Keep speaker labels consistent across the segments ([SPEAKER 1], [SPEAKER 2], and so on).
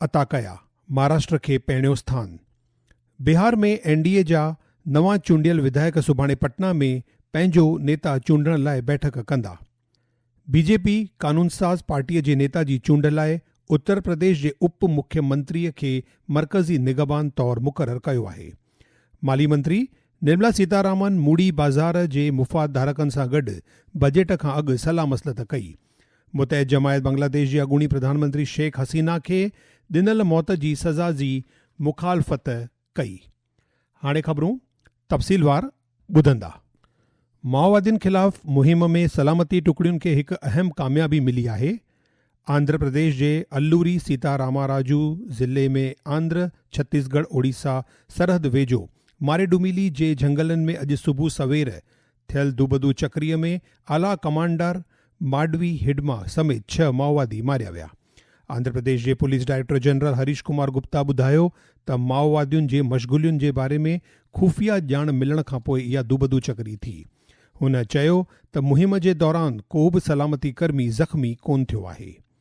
[SPEAKER 1] عطا ڪيا. مھاراشٽر کي پهريون اسٿان. بهار ۾ اين ڊي اي جا نوان چونڊيل وڌايڪ سڀاڻي پٽنا ۾ پنهنجو نيتا چونڊڻ لاء بيٺڪ ڪندا. بي جي پي قانونساز پارٽي جي نيتا جي چونڊ لاء اتر پرديش جي اپ مکي منتري کي مرڪزي نگهبان طور مقرر ڪيو آهي. مالي منتري نرملا سيتارامن موڙي بازار جي مفاد ڌارڪن سان گڏ بجيٽ کان اڳ صلاح مصلحت ڪئي متحد جماعت بنگلاديش جي اڳوڻي پرڌان منتري شيخ حسينا کي ڏنل موت جي سزا جي مخالفت ڪئي. هاڻي خبرون تفصيلوار ٻڌندا. مائووادين خلاف مهم ۾ سلامتي ٽڪڙين کي هڪ اهم ڪاميابي ملي آهي. آنڌر پرديش جي الوري سيتا راما راجو ضلعي ۾ آنڌر ڇتيس ڳڙهه اوڙيسا سرحد ويجهو ماريڊوميلي جي جهنگلن ۾ اڄ صبح سوير ٿيل دوبدو چڪري ۾ اعليٰ ڪمانڊر ماڊوي هڊما سميت ڇهه مائووادي ماريا ويا. آنڌراپرديش جي police director general Harish Kumar Gupta ٻڌايو ته مائووادين جي مشغولين جي باري ۾ خفيه ڄاڻ ملڻ کانپوء اها دوبدو چڪري ٿي. هن چيو ته مهم جي دوران ڪو به سلامتي ڪرمي زخمي ڪونه ٿيو آهي.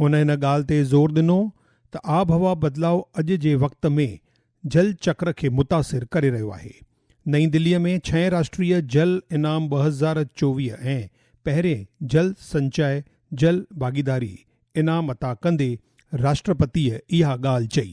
[SPEAKER 1] هن ان ڳالهه تي زور ڏنو ته آبهوا بدلاء اڄ جي وقت ۾ جل چڪر کي متاثر ڪري رهيو آهي. نئين دلي ۾ ڇهين راشٽريه جل انعام ٻه هزار چوويهه ۽ پهرين جل سنچاء جل ڀاڳيداري انعام عطا ڪندي راشٽرپتيء اها ڳالهه چئي.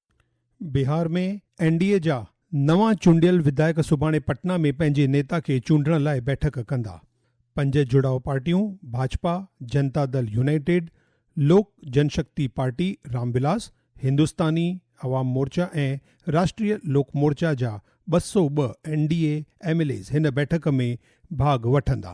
[SPEAKER 2] بهار ۾
[SPEAKER 1] اين ڊي اي جا نوان چونڊيل وڌايڪ سڀاڻي پٽنا ۾ پنهنجي نيتا کي چونڊڻ لاء بيٺڪ ڪندا. پنج جڙاء پارٽيون ڀاجپا، جنتا دل يونائيٽيڊ، لوڪ جن شڪتي پارٽي رام ولاس، هندستاني عوام مورچا ۽ راشٽريه لوڪ مورچا جا ٻه سؤ ٻه N D A M L As هن بيٺڪ ۾ ڀاڳ وٺندا.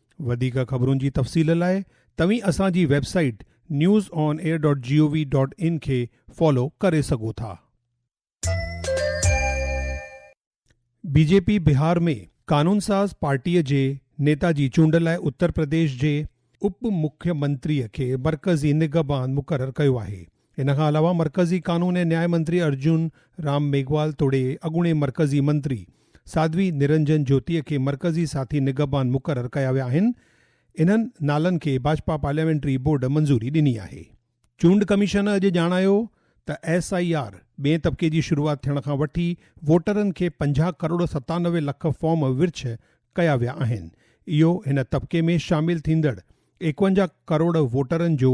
[SPEAKER 1] وڌيڪ خبرن جي تفصيل لاء توهين اسان جي web site news on air dot G O V dot in کي فالو ڪري سگهو ٿا. بي جي پي بهار ۾ قانونساز پارٽيء جي نيتا جي چونڊ لاء اترپرديش جي اپ مکيمنتريء کي مرڪزي نگهبان مقرر ڪيو آهي. ان کان علاوه مرڪزي قانون ۽ نياء منتري ارجن رام ميگهوال توڙي اڳوڻي مرڪزي منتري ساڌوي نرنجن جوتيء کي مرڪزي ساٿي نگهبان مقرر ڪيا ويا آهن، انهن نالن کي ڀاجپا پارليامينٽري بورڊ منظوري ڏني آهي. چونڊ ڪميشن اڄ ڄاڻايو ته ايس آء آر ٻئين طبقي جي شروعات ٿيڻ کان وٺي ووٽرن کي پنجاهه ڪروڙ ستانوي لک فارم ورڇ ڪيا ويا آهن، اهو هن طبقي ۾ شامل ٿيندڙ ايڪونجاهه ڪروڙ ووٽرن جو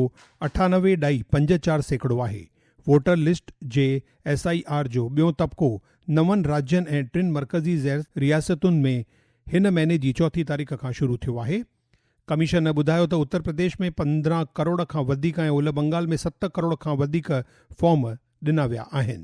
[SPEAKER 1] اٺانوي ڏھائي پنج چار سيڪڙو آھي. ووٽر لسٽ جي ايس آء آر جو ٻيون طبقو نون راڄن ۽ ٽن مرڪزي زير رياستن ۾ ھن مھيني جي چوٿين تاريخ کان شروع ٿيو آھي. ڪميشن ٻڌايو ته اتر پرديش ۾ پندرهن ڪروڙ کان وڌيڪ ۽ اولھ بنگال ۾ ست ڪروڙ کان وڌيڪ فارم ڏنا ويا آھن.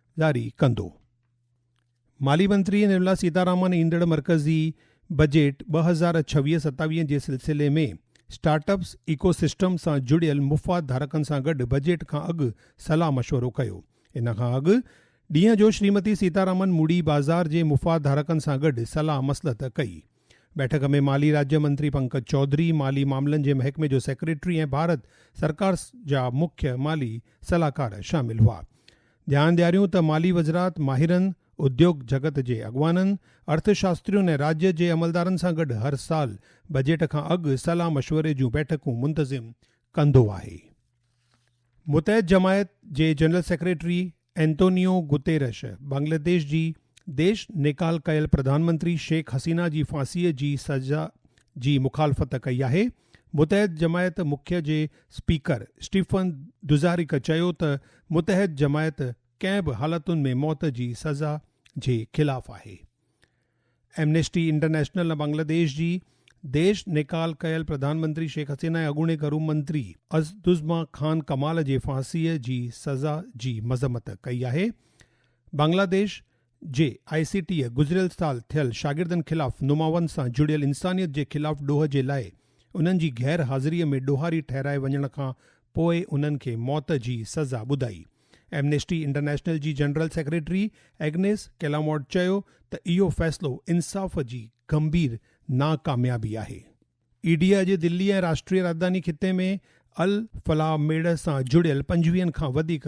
[SPEAKER 1] جاري ڪندو. مالي منتري نرملا سيتارامن ايندڙ مرڪزي بجيٽ ٻه هزار ڇويهه ستاويهه جي سلسلي ۾ اسٽارٽ اپس ايڪو سسٽم سان جڙيل مفاد ڌارڪن سان گڏ بجيٽ کان اڳ صلاح مشورو ڪيو. ان کان اڳ ڏينهن جو شريمتي سيتارامن موڙي بازار جي مفاد ڌارڪن سان گڏ صلاح مصلحت ڪئي. بيٺڪ ۾ مالي راجيا منتري پنڪج چوڌري، مالي معاملن جي محڪمي جو سيڪريٽري ۽ ڀارت سرڪار جا مکيه مالي صلاحڪار شامل هئا. ڄاڻ ڏياريون ته مالي وزرات ماهرن، اديوگ جڳت جي اڳواڻن، ارٿشاسترين ۽ راڄ جي عملدارن سان گڏ هر سال بجيٽ کان اڳ صلاح مشوري جون بيٺڪون منتظم ڪندو آهي. متحد جماعت جي general secretary Antonio Guterres Bangladesh جي ديش نيڪال ڪيل پرڌان منتري شيخ حسينا جي ڦاسي جي سزا جي مخالفت ڪئي آهي متحد جماعت مکيه جي اسپيڪر اسٽيفن دوزاريڪ چيو ته متحد جماعت ڪنهن به حالتن ۾ موت جي سزا جي خلاف آهي. ايمنيسٽي انٽرنيشنل بنگلاديش جي ديش نيڪال ڪيل پرڌانمنتري شيخ حسينا ۽ اڳوڻي گهرو منتري عزدزما خان ڪمال جي ڦاسيء جي سزا جي مذمت ڪئي آهي. بنگلاديش جي آء سي ٽيء گذريل سال ٿيل شاگردن خلاف نماون سان جڙيل انسانيت جي خلاف ڏوهه جي لاء انهن جي غير حاضريء ۾ ڏوهاري ٺهرائي وڃڻ کان پوء انهن کي موت جي سزا ٻڌائي. ايمنيسٽي انٽرنيشنل جي جنرل سيڪريٽري ايگنيس ڪيلامورٽ چيو ته اهو فيصلو انصاف جي گنڀير ناڪاميابي آهي. اي ڊي اڄ دلي ۽ راشٽري راڄڌاني خطي ۾ الفلاح ميڙ سان جڙيل پنجويهن کان وڌيڪ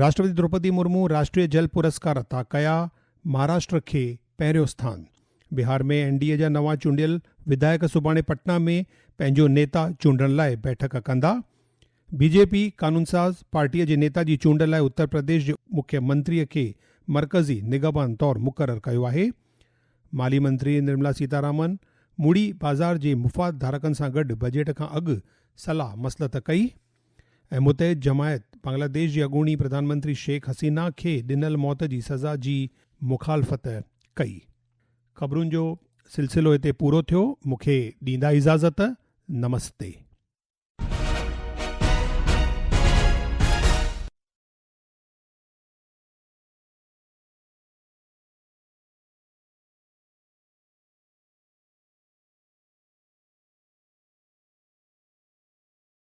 [SPEAKER 1] راشٽرپتي دروپدي مرمو راشٽري جل پرسڪار عطا ڪيا، مهاراشٽر کي پهريون اسٿان، بهار ۾ اين ڊي اي جا نوان چونڊيل وڌايڪ سڀاڻي پٽنا ۾ پنهنجو نيتا چونڊڻ لاء بيٺڪ ڪندا، بي جي پي قانونساز پارٽي جي نيتا جي چونڊ لاء اترپرديش جي مکي منتري کي مرڪزي نگهبان طور مقرر ڪيو آهي، مالي منتري نرملا سيتارامن مڙي بازار جي مفاد ڌارڪن سان گڏ بجيٽ کان اڳ صلاح مصلحت ڪئي. ۽ متحد جماعت بنگلاديش جي اڳوڻي پرڌان منتري شيخ حسينه کي ڏنل موت جي سزا جي مخالفت ڪئي. خبرن جو سلسلو هتي پورو ٿيو مون کي ڏيندا اجازت نمستي.